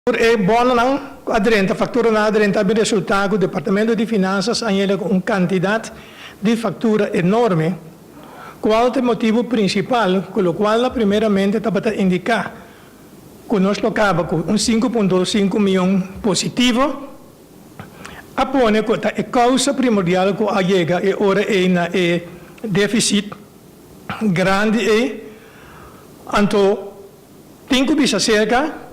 Tur e bononan ku a drenta, fakturanan a drenta, a bin resultá ku Departamento di Finansas a yega ku un kantidat di faktura enorme, kual ta e motibu prinsipal ku lokual na primeramente tabata indiká ku nos lo kaba ku un sinku punt dos sinku mion positivo, a pone ku ta e kousa primordial ku a yega e ora ei na e défisit grandi ei. Anto. Tin cu bisa acerca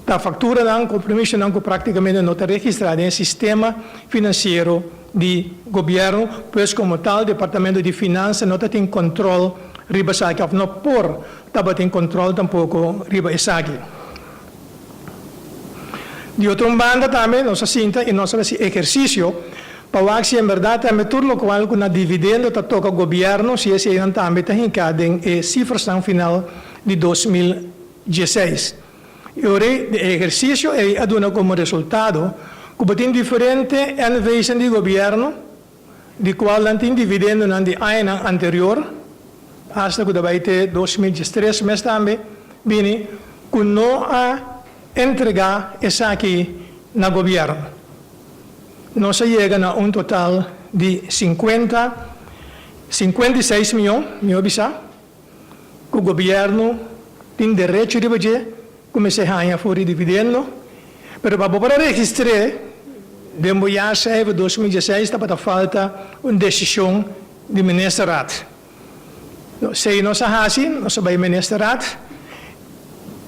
ta facturanan, compromisonan cu practicamente no ta registra den e sistema financiero di Gobierno, pues como tal Departamento di Finansa no ta tin control riba esaki of no por tabatin control tampoco riba esaki. Di otro un banda tambe nos a sinta i nos a hasi ehersisio pa wak si en berdad tambe tur lokual ku na dividendo ta toka gobièrnu si eseinan tambe ta hinká den e sifrasnan final di dos mil dieseis. I ora ei di ehersisio ei a duna komo resultado ku bo tin diferente NV'sen di gobièrnu di cual nan tin dividendonan di añanan anterior, hasta cu ta bay te dos mil diestres mes tambe, bini cu no a entrega esaki na gobierno. Nos a yega na un total di cincuenta, cincuenta y seis miyon, mi hopi sa. ku gobièrnu tin derecho riba dje ku mester haña for di dividendo, pero pa bo para registr'é den bo jaarcijfer dos mil diesseis tabata falta un desishon di Ministerraad. Sei nos a hasi, nos a bai Ministerraad,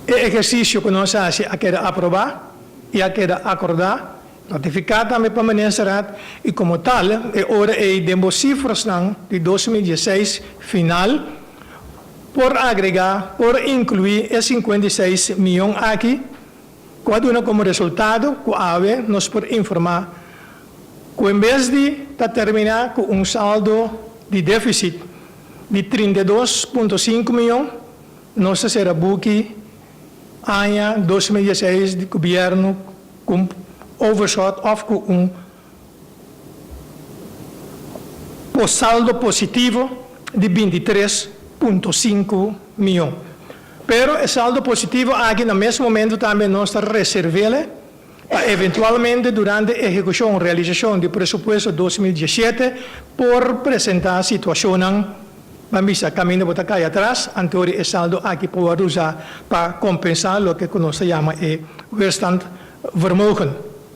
e ehersisio ku nos a hasi a keda aprobá i a keda akordá, Notifiká tambe pa Ministerraad i komo tal e ora ei den bo sifrasnan di dos mil dieseis final por agregá, por inkluí e sinkuenta i seis mion aki ku a duna komo resultado ku awe nos por informá ku en bes di ta terminá ku un saldo di défisit di trinta i dos punto sinku mion, nos ta sera buki. Aña dos mil dieseis di Gobierno cu un overshot of cu un por saldo positivo di binti tres punto sinku mion. Pero e saldo positivo aki na mes momento tambe nos ta reservele pa eventualmente durante ehekushon, realisashon, di presupuesto dos mil diesete por presentá situashonnan ban bisa kaminda bo ta kai atras antoeri e saldo aki por wòrdu usá pa kompensá loke ku nos ta yama e weerstand vermogen.